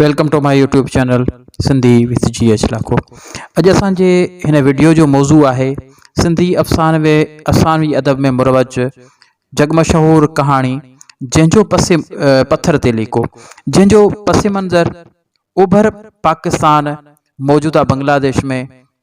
Welcome to my YouTube channel Sindhi with G H Lakho اڄ اسان جي هن وڊيو جو موضوع آهي سنڌي افسانوي افسانوي ادب ۾ مروج جڳ مشهور ڪهاڻي جنهن جو پس پٿر تي ليڪو جنهن جو پس منظر اوڀر پاڪستان موجوده بنگلاديش ۾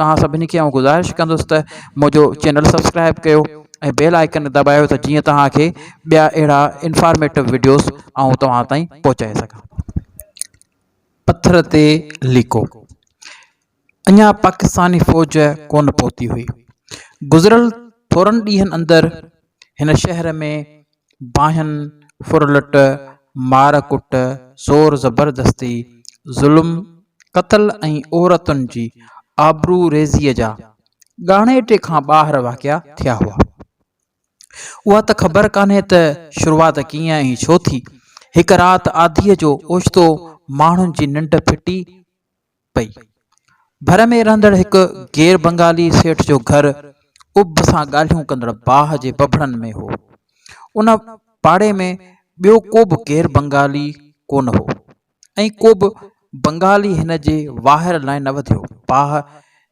توهان سڀني کي آئون گذارش ڪندس ته منهنجو چينل سبسڪرائب ڪيو ۽ بيل آئڪن دٻايو ته جيئن توهان کي ٻيا اهڙا انفارميٽو وڊيوز آئون توهان تائين پهچائي سگهان. پٿر تي ليڪو اڃا پاڪستاني فوج ڪونه پهتي هئي. گذريل ٿورن ڏينهن اندر هن شهر ۾ باهين ڦرلٽ، مار ڪٽ، زور زبردستي، ظلم، قتل ۽ عورتن جي آبرو ريزيء جا ڳاڻيٽي کان ٻاهر واقعا ٿيا هئا. اها ته خبر ڪانهي ته شروعات ڪيئن ۽ ڇو ٿي. هڪ رات آڌيء جو اوچتو ماڻهن جي ننڊ ڦٽي، پئي. ڀر ۾ رهندڙ هڪ غير بنگالي سيٺ جو گهر اڀ سان ڳالهيون ڪندڙ باهه جي ببڙن ۾ هو. ان پاڙي ۾ ٻيو ڪو به غير بنگالي ڪو نه هو ۽ ڪو به بنگالي هن جي واهر لاء نه وڌيو. باهه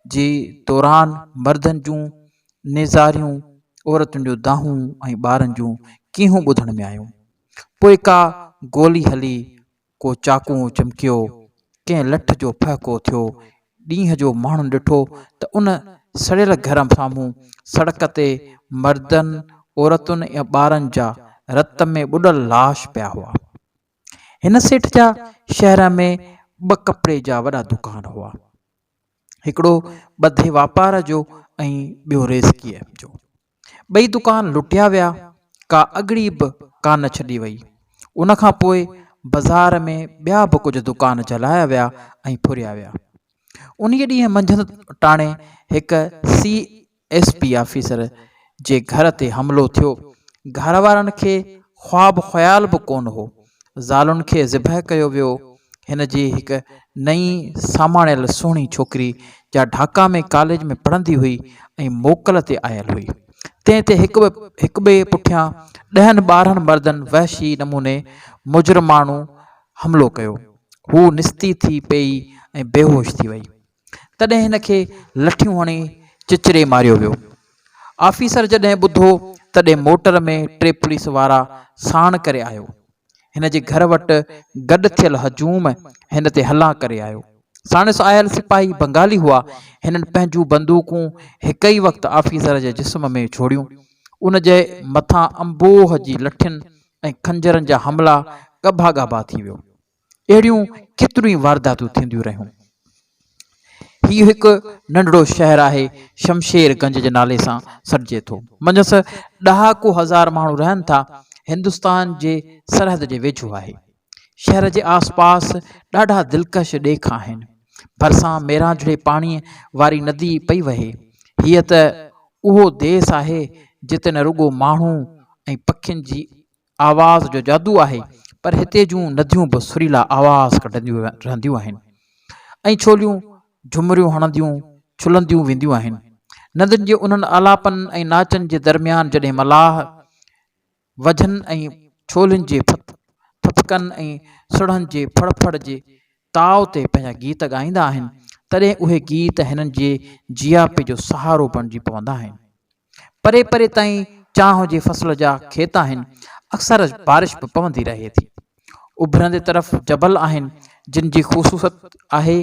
جي دوران مردن جون نيزاريون، عورتن جون دانهون ۽ ٻارن جون ڪيهون ٻڌڻ ۾ آيون. پوء ڪا گولي هلي ڪو چاقو چمڪيو، ڪنهن لٺ جو ڦهڪو ٿيو، ڏينهن جو ماڻهن ڏٺو ته ان سڙيل گهر سامهون سڙڪ تي مردن، عورتن ۽ ٻارن جا رت ۾ ٻڏل لاش پيا هئا. هن سيٺ جا شهر ۾ ٻه ڪپڙي جا وڏا دڪان هئا. هڪڙو ٻڌي واپار جو ۽ ٻيو ريسڪيء جو. ٻئي دڪان لٽيا ويا، ڪا اڳڙي به ڪا نه ڇڏي وئي. ان کان پوء بزار ۾ ٻيا به ڪجهه دڪان جلايا ويا ۽ ڦريا ويا. انهيء ڏينهن منجهند ٽاڻي هڪ سي ايس پي آفيسر جي گهر تي حملو ٿيو. گهر وارن کي خواب خيال به ڪونه هو زالن کي ذبح ڪيو ويو. هن جي هڪ نئين ساماڻيل سهڻي ڇوڪري جا ڍاڪا ۾ ڪاليج ۾ پڙهندي هئي ۽ موڪل تي آيل هئي. تنهن تي هڪ هڪ ٻئي پٺيان ڏهن ٻارهن مردن وحشي نموني مجرماڻو حملو ڪيو. هوء نستي ٿي پيئي ۽ بيهوش ٿي وئي. تڏهن هن کي لٺيون هڻي چچري ماريو ويو. آفيسر جڏهن ٻڌو تڏهن موٽر ۾ ٽي پوليس وارا ساڻ ڪري آيو. هن جي گهر وٽ گڏ ٿيل هجوم هن تي حلا ڪري آيو. ساڻس آيل سپاهي بنگالي هئا. هنن پنهنجون بندوقون هڪ ئي وقت آفيسر جي جسم ۾ ڇوڙيون. ان جي مٿان انبوهه جي لٺين ۽ خنجرن جا حملا ڳڀا ڳاڀا ٿي ويو. اهڙيون ڪيتريون ئي وارداتون ٿينديون رهيون. هي هڪ ننڍڙو شهر آهي، شمشير گنج جي نالي سان سڏجي ٿو. منجهس ڏهاڪو هزار ماڻهو رهن ٿا. هندستان جي سرحد جي ويجهو آهي. شهر جي آس پاس ڏاڍا دلڪش ڏيک آهن. ڀرسان ميرانجهڙي پاڻيء واري ندي پئي وهي. هيء ته اهو ديس آهي، جتي نه رڳو ماڻهو ۽ پکين جي آواز جو جادو آهي پر هتي جون نديون به سريلا آواز ڪڍنديون رهنديون آهن ۽ ڇوليون جهمريون هڻنديون ڇلنديون وينديون آهن ندين جي انهن آلاپن ۽ ناچن جي درميان جڏهن ملاح وجهن ۽ ڇولين جي ٿڦڪن ۽ سڙهن جي ڦڙ ڦڙ جي تاء تي پنهنجا گيت ڳائيندا آهن، تڏهن اهي گيت هنن جي جياپي جو سهارو بڻجي پوندا آهن. پري پري تائين چانهه جي فصل جا کيت آهن، اڪثر بارش به پوندي رهي ٿي. اڀرندي طرف جبل آهن، جن جي خصوصت آهي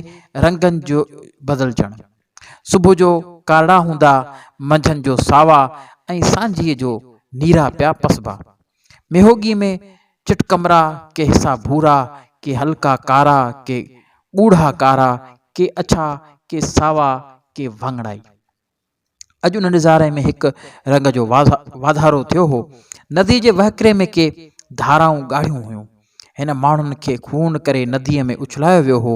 رنگن جو بدلجڻ. صبح جو ڪارڙا هوندا، منجهند جو ساوا ۽ سانجهيء جو نيرا پيا پسبا. ميهوڳي ۾ چٽڪمرا، ڪي حصا ڀورا، ڪي هلڪا ڪارا، ڪي ڳوڙها ڪارا، ڪي اڇا، ڪي ساوا، ڪي واڱڻائي. اڄ ان نظاري ۾ هڪ رنگ جو واڌارو ٿيو هو. نديء جي وهڪري ۾ ڪي ڌارائون ڳاڙهيون هيون. هن ماڻهن کي خون ڪري نديء ۾ اڇلايو ويو هو.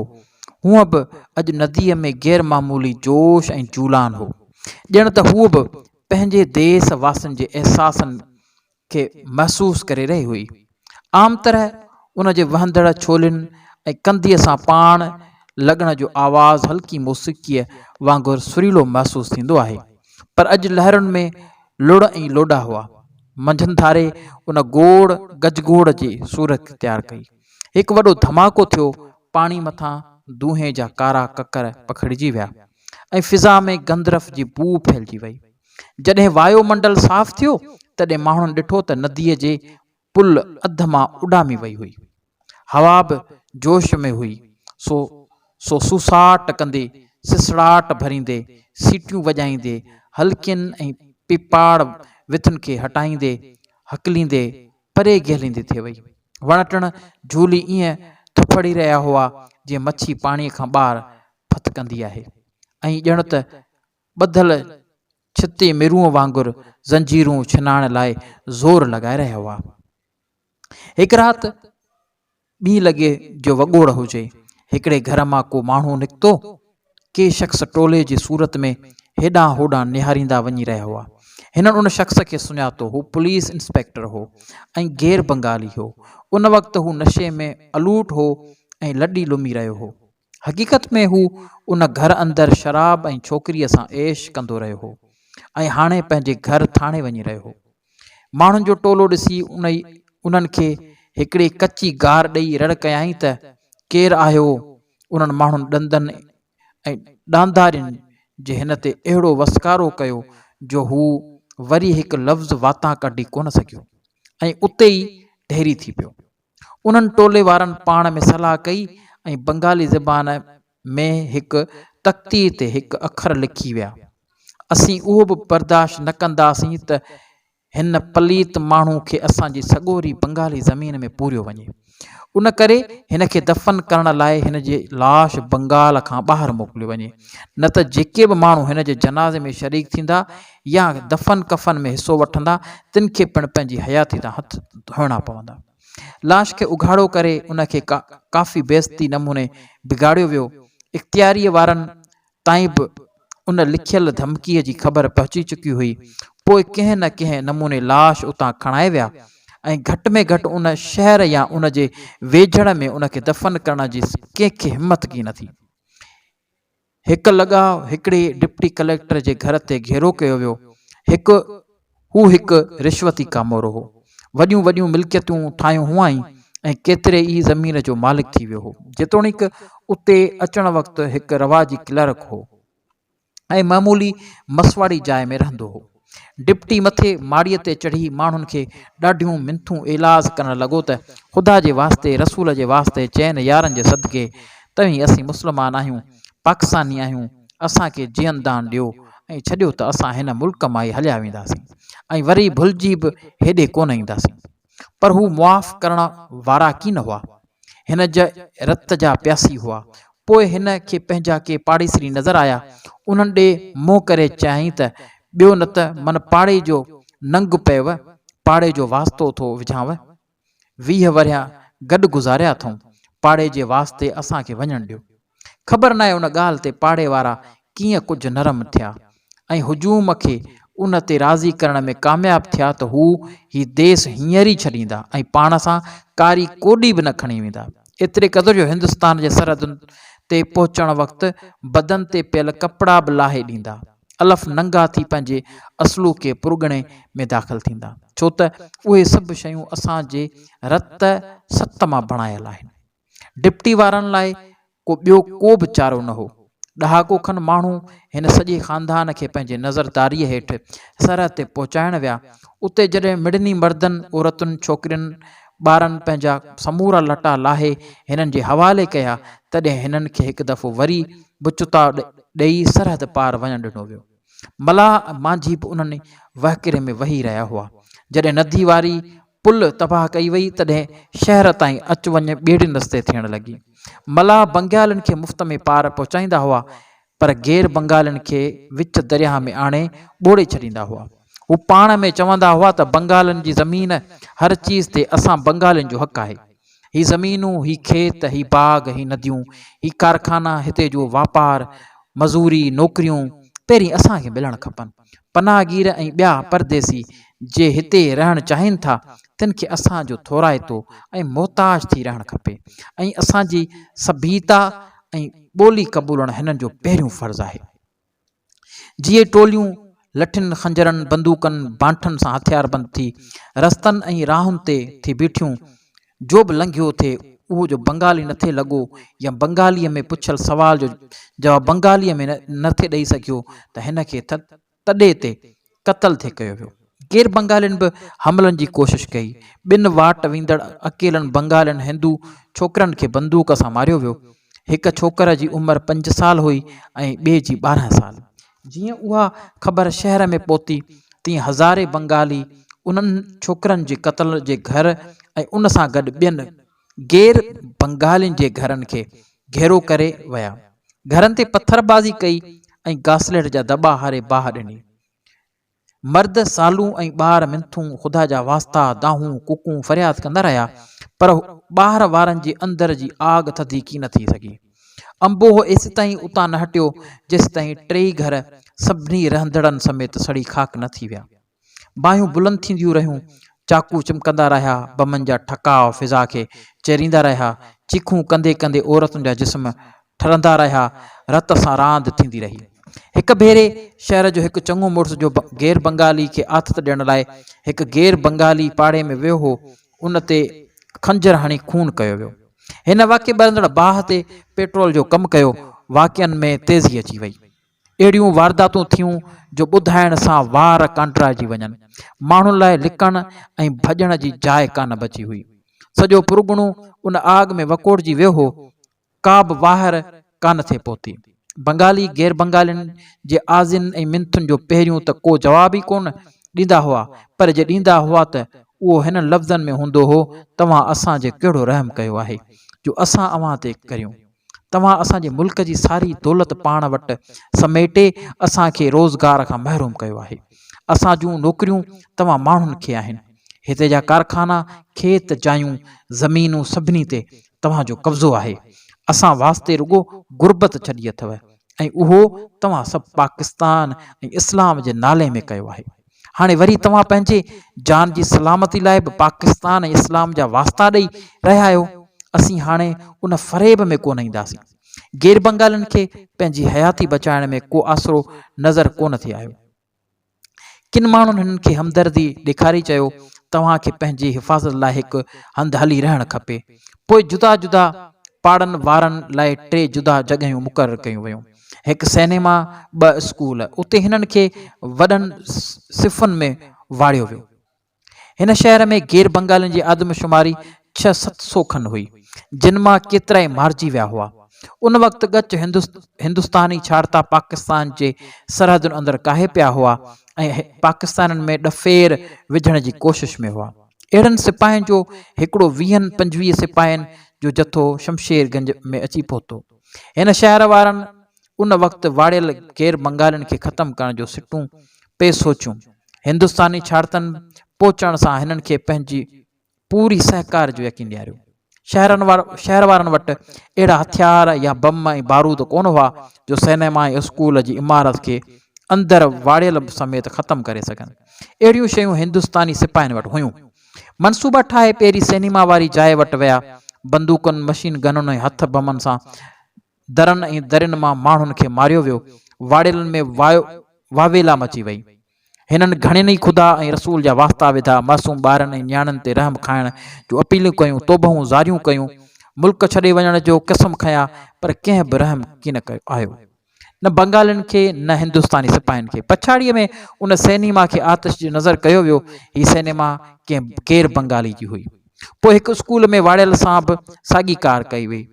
هونء به اڄ نديء ۾ غير معمولي جوش ۽ جولان هو. ڄڻ ته هوء به پنهنجي ديس واسين جي احساسن کي محسوس ڪري رهي هئي. عام طرح ان جي وهندڙ ڇولين ۽ ڪنڌيء سان پاڻ لڳڻ جو آواز هلڪي موسيقيء وانگر سريلو محسوس ٿيندو آهي، پر اڄ لهرن ۾ لڙ ۽ لوڏا هئا. منجهند ڌاري ان گوڙ گجگوڙ جي صورت اختيار ڪئي. هڪ وڏو ڌماڪو ٿيو، پاڻي مٿان دونهين جا ڪارا ڪڪر پکڙجي ويا ۽ فضا ۾ گندرف جي بوء ڦهلجي وئي. جڏهن وايو منڊل صاف ٿيو، تڏهن ماڻهن ڏٺو ته نديء جي پل اڌ مان اڏامي وئي هئي. هوا به جوش ۾ هئي، سو سو سوساٽ ڪندي، سسڙاٽ ڀريندي، سيٽيون وڄائيندي، هلڪين ۽ پيپاڙ وٿن کي هٽائيندي، هڪليندي پري گهليندي ٿي وئي. وڻ ٽڻ جهولي ائين ٿڦڙي رهيا هئا جيئن مڇي پاڻيء کان ٻاهر ڦٿڪندي آهي ۽ ڄڻ ته ٻڌل ڇتي مرونء وانگر زنجيرون ڇنائڻ لاء زور لڳائي رهيا هئا. هڪ رات ٻيئي لڳي جو وڳوڙ هجي. هڪڙي گهر مان ڪو ماڻهو نڪتو. ڪي شخص ٽولي جي صورت ۾ هيڏانهن هوڏانهن نهاريندا وڃي رهيا هئا. هنن ان شخص کي سڃاتو. هو پوليس انسپيڪٽر هو ۽ غير بنگالي هو. ان وقت هو نشي ۾ الوٽ هو ۽ لڏي لمي رهيو هو. حقيقت ۾ هو ان گهر اندر شراب ۽ ڇوڪريء سان عيش ڪندو رهيو هو ۽ هاڻي پنهنجي گهر ٿاڻي وڃي رهيو هو. ماڻهن جو ٽولو ڏسي انهي انهن کي هڪڙي ڪچي گار ڏيئي رڙ ڪيائين ته، ڪير آهيو؟ انهن ماڻهن ڏندن ۽ ڏاندارين جي هن تي اهڙو وسڪارو ڪيو جو هو وري هڪ لفظ واتان ڪڍي ڪونه سگهيو ۽ اتي ئي ڍيري ٿي پيو. انهن ٽولي وارن پاڻ ۾ صلاح ڪئي ۽ بنگالي زبان ۾ هڪ تختي تي هڪ اکر لکي ويا. اسين اهو به برداشت نه ڪنداسين ته هن پليت ماڻهو کي اسان جي سڳوري بنگالي زمين ۾ پوريو وڃي. ان ڪري هن کي دفن ڪرڻ لاء هن جي لاش بنگال کان ٻاهر موڪليو وڃي. نه ته جيڪي به ماڻهو هن جي جنازي ۾ شريڪ ٿيندا، يا دفن ڪفن ۾ حصو وٺندا تن کي پڻ پنهنجي حياتي تان هٿ ڌوئڻا پوندا. لاش کي اگهاڙو ڪري ان کي ڪافي بيعزتي نموني بگاڙيو ويو. اختياريء وارن تائين به ان لکيل ڌمڪيء جي خبر پهچي چڪي هئي. پوء ڪنهن نه ڪنهن نموني لاش اتان کڻائي ويا ۽ گهٽ ۾ گهٽ ان شهر يا ان جي ويجهڙ ۾ ان کي دفن ڪرڻ جي ڪنهن کي همٿ ڪي نه ٿي. هڪ لڳاء هڪڙي ڊپٽي ڪليڪٽر جي گهر تي گهيرو ڪيو ويو. هڪ هو هڪ رشوتي ڪامورو هو. وڏيون وڏيون ملڪيتون ٺاهيون هئائين ۽ ڪيتري ئي زمين جو مالڪ ٿي ويو هو. جيتوڻيڪ اتي اچڻ وقت هڪ رواجي ڪلرڪ هو ۽ معمولي مسواڙي جاء ۾ رهندو هو. ڊپٽي مٿي ماڙيء تي چڙهي ماڻهن کي ڏاڍيون منٿون ايلاز ڪرڻ لڳو ته خدا جي واسطي رسول جي واسطي چئن يارن جي صدقي توهين اسين مسلمان آهيون پاڪستاني آهيون اسان کي جيئن دان ڏيو ۽ ڇڏيو ته اسان هن ملڪ مان ئي هليا وينداسين ۽ وري ڀلجي به هيڏي ڪونه اينداسين. پر هو معاف ڪرڻ وارا ڪين هئا. هن جا رت جا پياسي هئا. پوء هن کي پنهنجا ڪي پاڙيسري نظر آيا. انهن ڏي منهن ڪري چيائين ته، ٻيو نه ته من پاڙي جو ننگ پيو، پاڙي جو واسطو ٿو وجهانء. ويهه ورهيه گڏ گذاريا اٿئون، پاڙي جي واسطي اسان کي وڃڻ ڏيو. خبر ناهي ان ڳالهه تي پاڙي وارا ڪيئن ڪجهه نرم ٿيا ۽ هجوم کي ان تي راضي ڪرڻ ۾ ڪامياب ٿيا ته هو هي ديس هينئر ئي ڇڏيندا ۽ پاڻ سان ڪاري ڪوڏي به نه کڻي ويندا. ايتري قدر جو هندستان جي سرحدن تي پهچڻ وقت بدن تي پيل ڪپڙا به لاهي ڏيندا. الف ننگا ٿي پنهنجي اصلوڪي پرڳڻي ۾ داخل ٿيندا. ڇو ته اهي سڀ شيون اسان جي رت ست مان بڻايل آهن. ڊپٽي وارن لاء ڪو ٻيو ڪو به چارو نه هو. ڏهاڪو کن ماڻهو هن سڄي خاندان کي پنهنجي نظرداريء هيٺ سرحد تي پهچائڻ ويا. اتي جڏهن مڙني مردن، عورتن، ڇوڪرين، ٻارن پنهنجا سمورا لٽا لاهي هنن جي حوالي ڪيا، تڏهن هنن کي هڪ دفعو وري به چتاء ڏيئي سرحد پار وڃڻ ڏنو ويو. ملاح ۽ مانجهي به انهن ئي وهڪري ۾ وهي رهيا هئا. جڏهن ندي واري پل تباهه ڪئي وئي تڏهن شهر تائين اچ وڃ ٻيڙين رستي ٿيڻ لڳي. ملاح بنگالين کي مفت ۾ پار پهچائيندا هئا پر غير بنگالين کي وچ درياهه ۾ آڻي ٻوڙي ڇڏيندا هئا. هو پاڻ ۾ چوندا هئا ته بنگالين جي زمين هر چيز تي اسان بنگالين جو حق آهي. هي زمينون، هي کيت، هي باغ، هي نديون، هي ڪارخانا، هتي جو واپار، مزوري، نوڪريون پهرين اسان کي ملڻ کپن. پناهگير ۽ ٻيا پرديسي جي هتي رهڻ چاهين ٿا تن کي اسان جو ٿورائتو ۽ محتاج ٿي رهڻ کپي ۽ اسان جي سڀيتا ۽ ٻولي قبولڻ هنن جو پهريون فرض آهي. جيئي ٽوليون لٺين، خنجرن، بندوقن، بانٺن سان هٿياربند ٿي رستن ۽ راهن تي ٿي بيٺيون جو به لنگهيو ٿي اهو جو بنگالي نه ٿي لڳو يا بنگاليء ۾ پڇيل سوال جو جواب بنگاليء ۾ نه ٿي ڏئي سگهيو ته هن کي تڏي تي قتل ٿي ڪيو ويو. غير بنگالين به حملن جي ڪوشش ڪئي. ٻن واٽ ويندڙ اڪيلن بنگالين هندو ڇوڪرن کي بندوق سان ماريو ويو. هڪ ڇوڪر جي عمر پنج سال هئي ۽ ٻئي جي ٻارهن سال. جيئن اها خبر شهر ۾ پهتي تيئن هزارين بنگالي انهن ڇوڪرن جي قتل جي گهر ۽ ان سان گڏ ٻين غير بنگالين جي گهرن کي گهيرو ڪري ويا، گهرن تي پٿربازي ڪئي ۽ گاسليٽ جا دٻا هاري باهه ڏني. مرد سالون ۽ ٻار منٿون خدا جا واسطا، دانهون، ڪوڪون فرياد ڪندا رهيا، پر ٻاهر وارن جي اندر جي آگ ٿڌي ڪي نه ٿي سگهي. انبوهه ايستائين اتان نه هٽيو، جيستائين ٽيئي گهر سڀني رهندڙن سميت سڙي خاڪ نه ٿي ويا. باهيون بلند ٿينديون رهيون، چاقو چمڪندا رهيا، بمن جا ٺڪاء فضا کي چيريندا رهيا، چيخون ڪندي ڪندي عورتن جا جسم ٺرندا رهيا، رت سان راند ٿيندي رهي. هڪ ڀيري شهر جو هڪ چڱو مڙس جو غير بنگالي کي آٿت ڏيڻ لاء هڪ غير بنگالي پاڙي ۾ ويو هو، ان تي خنجر هڻي خون ڪيو ويو. هن واقعي ٻرندڙ باهه تي پيٽرول جو ڪم ڪيو، واقعن ۾ تيزي اچي وئي. اهڙيون وارداتون ٿيون جو ٻڌائڻ سان وار ڪانڊرائجي وڃن. ماڻهن لاء لڪڻ ۽ ڀڄڻ جي جاء ڪانه بچي هئي. سڄو پرڳڻو ان آڳ ۾ وڪوڙجي ويو هو. ڪا به واهر ڪانه ٿي پهتي. بنگالي غير بنگالين جي آزين ۽ منٿن جو پهريون ته ڪو جواب ئي ڪونه ڏيندا هئا پر جي ڏيندا هئا ته اهو هنن لفظن ۾ هوندو هو، توهان اسان جي ڪهڙو رحم ڪيو آهي جو اسان اوهان تي ڪريون. توهان اسان جي ملڪ جي ساري دولت پاڻ وٽ سميٽي اسان کي روزگار کان محروم ڪيو آهي. اسان جون نوڪريون توهان ماڻهن کي آهن. هتي جا ڪارخانا، کيت، جايون، زمينون سڀني تي توهان جو قبضو آهي، اسان واسطي رڳو غربت ڇڏي اٿو ۽ اهو توهان سڀ پاڪستان ۽ اسلام جي نالي ۾ ڪيو آهي. هاڻي وري توهان پنهنجي جان جي سلامتي لاء به پاڪستان ۽ اسلام جا واسطا ڏئي رهيا آهيو. اسين هاڻي ان فريب ۾ ڪونه اينداسين. غير بنگالين کي پنهنجي حياتي بچائڻ ۾ ڪو آسرو نظر ڪونه ٿي آيو. ڪن ماڻهن هنن کي همدردي ڏيکاري چيو، توهان کي پنهنجي حفاظت لاء هڪ هنڌ هلي رهڻ کپي. پوء جدا جدا پاڙن وارن لاء ٽي جدا جڳهيون مقرر ڪيون ويون. هڪ سئنيما، ٻه اسڪول. اتي هنن کي وڏن صفن ۾ واڙيو ويو. هن شهر ۾ غير بنگالين جي آدم شماري ڇهه ست سو کن هئي، جن مان ڪيترائي مارجي ويا هئا. ان وقت ڳچ هندستاني ڇاڙتا پاڪستان جي سرحدن اندر ڪاهي پيا هئا ۽ پاڪستانين ۾ ڏڦير وجهڻ جي ڪوشش ۾ هئا. اهڙن سپاهين جو هڪڙو ويهن پنجويهه سپاهين جو جٿو شمشير گنج ۾ اچي پهتو. هن شهر وارن. ان وقت واڙيل غير بنگالين کي ختم ڪرڻ جو سٽون پئي سوچيون. هندستاني ڇاڙتن پهچڻ سان هنن کي پنهنجي پوري سهڪار جو يقين ڏياريو. شهرن شهر وارن وٽ اهڙا هٿيار يا بم ۽ بارود ڪونه هئا جو سئنيما ۽ اسڪول جي عمارت کي اندر واڙيل سميت ختم ڪري سگهن. اهڙيون شيون هندستاني سپاهين وٽ هيون. منصوبا ٺاهي پيري سئنيما واري جاء وٽ ويا. بندوقن، مشين گنن ۽ هٿ بمن سان درن ۽ درين مان ماڻهن کي ماريو ويو، واڙيلن ۾ واء واويلا مچي وئي. هنن گهڻين ئي خدا ۽ رسول جا واسطا وڌا، معصوم ٻارن ۽ نياڻين تي رحم کائڻ جون اپيلون ڪيون، توبهون زاريون ڪيون، ملڪ ڇڏي وڃڻ جو قسم کنيا، پر ڪنهن به رحم ڪين آيو. نه بنگالين کي، نه هندستاني سپاهين کي. پڇاڙيء ۾ ان سئنيما کي آتش جي نظر ڪيو ويو. هي سئنيما ڪنهن غير بنگالي جي هئي. پوء هڪ اسڪول ۾ واڙيل سان به ساڳي ڪار ڪئي وئي.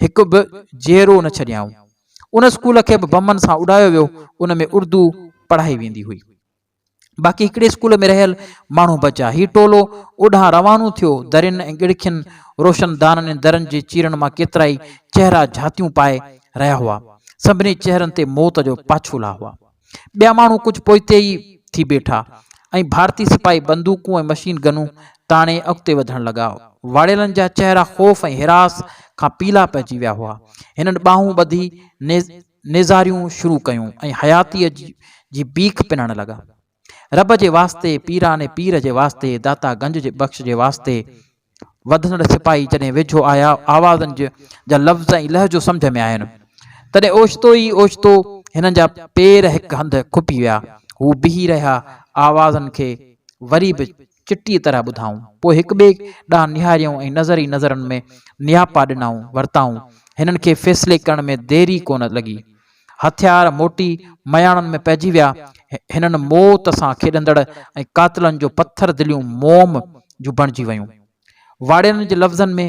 هڪ به جيئرو نه ڇڏيائون. ان اسڪول کي به بمن سان اڏايو ويو، ان ۾ اردو پڙهائي ويندي هئي. باقي هڪڙي اسڪول ۾ رهيل ماڻهو بچا. هي ٽولو اوڏانهن روانو ٿيو. درين ۽ ڳڙکين، روشن دانن ۽ درن جي چيرن مان ڪيترائي چهرا جهاتيون پائي رهيا هئا. سڀني چهرن تي موت جو پاڇولا هئا. ٻيا ماڻهو ڪجهه پوئتي ئي ٿي بيٺا ۽ ڀارتي سپاهي بندوقون ۽ مشين گنون تاڻي اڳتي وڌڻ لڳا. واڙيلن جا چهرا خوف ۽ هراس کان پيلا پئجي ويا هئا. هنن ٻانهون ٻڌي نيزاريون شروع ڪيون ۽ حياتيء جي بيک پنڻ لڳا. رب جي واسطي، پيران پير جي واسطي، داتا گنج بخش جي واسطي، وڌندڙ سپاهي جڏهن ويجهو آيا، آوازن جا لفظ ۽ لهجو سمجهه ۾ آيم، تڏهن اوچتو ئي اوچتو هنن جا پير هڪ هنڌ کپي ويا. هو بيهي رهيا، آوازن کي وري به چٽيء طرح ٻڌائون. پوء هڪٻئي ڏانهن نهاريائون ۽ نظر ئي نظرن ۾ نياپا ڏنائون ورتائون. هنن کي فيصلي ڪرڻ ۾ دير ئي ڪونه لڳي. هٿيار موٽي مياڻن ۾ پئجي ويا. هنن موت سان کيڏندڙ ۽ قاتلن جو پٿر دليون موم جون بڻجي ويون. واڙيرن جي لفظن ۾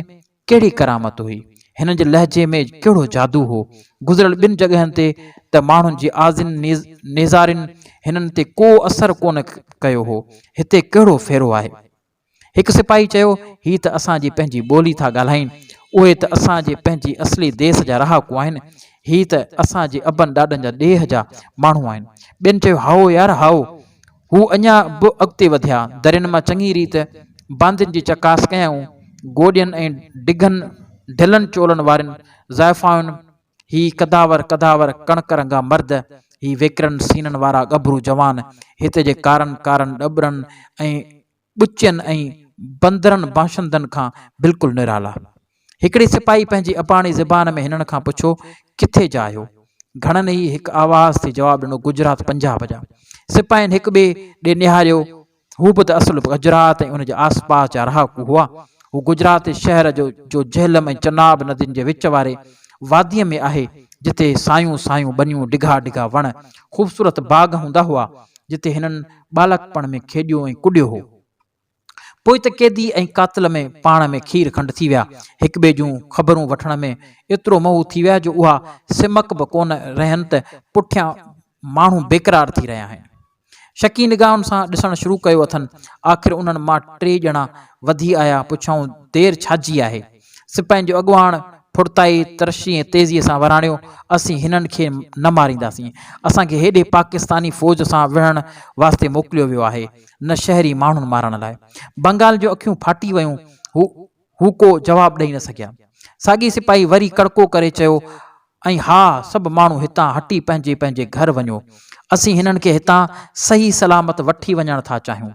ڪهڙي ڪرامت هئي؟ هنن جي لهجي ۾ ڪهڙو جادو هو؟ گذريل ٻن جڳهن تي ته ماڻهن جي آزين نيزارين هنن تي ڪو اثر ڪونه ڪيو هو. هتي ڪهڙو ڦيرو آهي؟ هڪ سپاهي چيو، هي ته اسان جي پنهنجي ٻولي ٿا ڳالهائين. اهي ته اسان جي پنهنجي اصلي ديس جا رهاڪو آهن. هي ته اسان جي ابن ڏاڏن جا ڏيهه جا ماڻهو آهن. ٻين چيو، هائو يار هائو. هو اڃا به اڳتي وڌيا. درين مان چڱي ريت باندين جي چڪاس ڪيائون. گوڏين ۽ ڊگهن ڍلن چولن وارين زائفايون. هي قداور قداور ڪڻڪ رنگا مرد، هي ويڪرن سينن وارا ڳڀرو جوان، هت جي ڪارن ڪارن ڏٻرن ۽ ٻچين ۽ بندرن باشندن کان بلڪل نرالا. هڪڙي سپاهي پنهنجي اباڻي زبان ۾ هنن کان پڇيو، ڪٿي جا آهيو؟ گهڻن ئي هڪ آواز ٿي جواب ڏنو، گجرات پنجاب جا. سپاهين هڪٻئي ڏي نهاريو. هو به ته اصل گجرات ۽ ان جي آس پاس جا رهاڪو هئا. هو گجرات شهر جو جو جهلم ۽ چناب ندين جي وچ واري واديء ۾ آهي، جتي سايون سايون ٻنيون، ڊگها ڊگها وڻ، خوبصورت باغ هوندا هئا، جتي هنن ٻالڪپڻ ۾ کيڏيو ۽ ڪڏيو هو. پوء ته قيدي ۽ قاتل ۾ پاڻ ۾ کير کنڊ ٿي ويا. هڪٻئي جون خبرون وٺڻ ۾ ايترو مئو ٿي ويا جو اها سمڪ به ڪونه رهين ته پٺيان ماڻهو بيقرار ٿي رهيا آهن. شڪي نگاهن سان ڏسڻ شروع ڪيو اٿن. آخر انهن مان ٽي ڄڻا وڌي آيا، پڇيائون، دير ڇاجي آهي؟ سپاهين جو اڳواڻ ڦڙتائي، ترشي ۽ تيزيء سان وراڻيو، اسين هنن کي نه مارينداسين. اسان کي هيڏي پاڪستاني فوج سان وڙهڻ واسطي موڪليو ويو آهي، نه شهري ماڻهن مارڻ لاء. بنگال جون اکيون ڦاٽي ويون. هو. هو ڪو جواب ڏئي نه سگهيا. ساڳي سپاهي وري ڪڙڪو ڪري چيو، ۽ ها، سڀ ماڻهو هتان هٽي پنهنجي پنهنجي گهر وڃو. اسين هنن کي هتان صحيح سلامت وٺي وڃڻ ٿا چاهيون.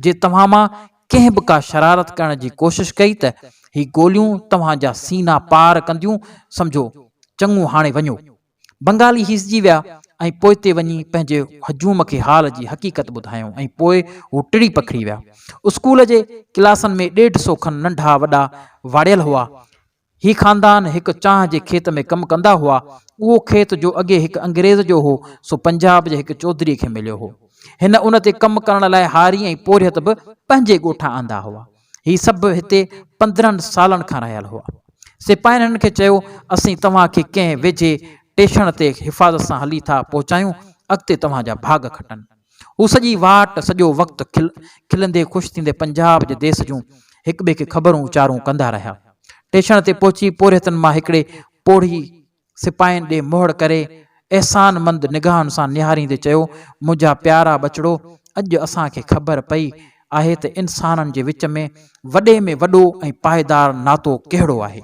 جي توهان مان ڪنهن به ڪا شرارت ڪرڻ جي ڪوشش ڪئي ته هي گوليون توهان جا سينا پار ڪنديون، سمجهو. چڱو هاڻي وڃو. بنگالي هيسجي ويا ۽ پوئتي وڃي پنهنجي هجوم کي حال جي حقيقت ٻڌايائون ۽ پوء هو ٽڙي پکڙي ويا. اسڪول جي ڪلاسن ۾ ڏيڍ سو کن ننڍا وڏا واڙيل هئا. هي خاندان هڪ چانهه جي کيت ۾ ڪم ڪندا هئا. اهو کيت جو اڳي هڪ انگريز جو هو سو پنجاب جي هڪ چوڌري کي مليو هو. هن ان تي ڪم ڪرڻ لاء هاري ۽ پورهيت به پنهنجي ڳوٺان آندا هئا. هي سڀ هتي پندرهن سالن کان رهيل هئا. سپاهين هنن کي چيو، اسين توهان کي ڪنهن ويجهي ٽيشڻ تي حفاظت سان هلي ٿا پهچايون، اڳتي توهان جا ڀاڳ کٽن. هو سڄي واٽ، سڄو وقت کلندي خوش ٿيندي پنجاب جي ديس جون هڪٻئي کي خبرون اچارون ڪندا رهيا. ٽيشڻ تي پهچي پورهيتن مان هڪڙي پوڙهي سپاهين ڏي مهڙ ڪري احسان مند نگاهن سان نهاريندي چيو، منهنجا پيارا ٻچڙو، اڄ اسان کي خبر پئي آهي ته انسانن جي وچ ۾ وڏي ۾ وڏو ۽ پائيدار ناتو ڪهڙو آهي.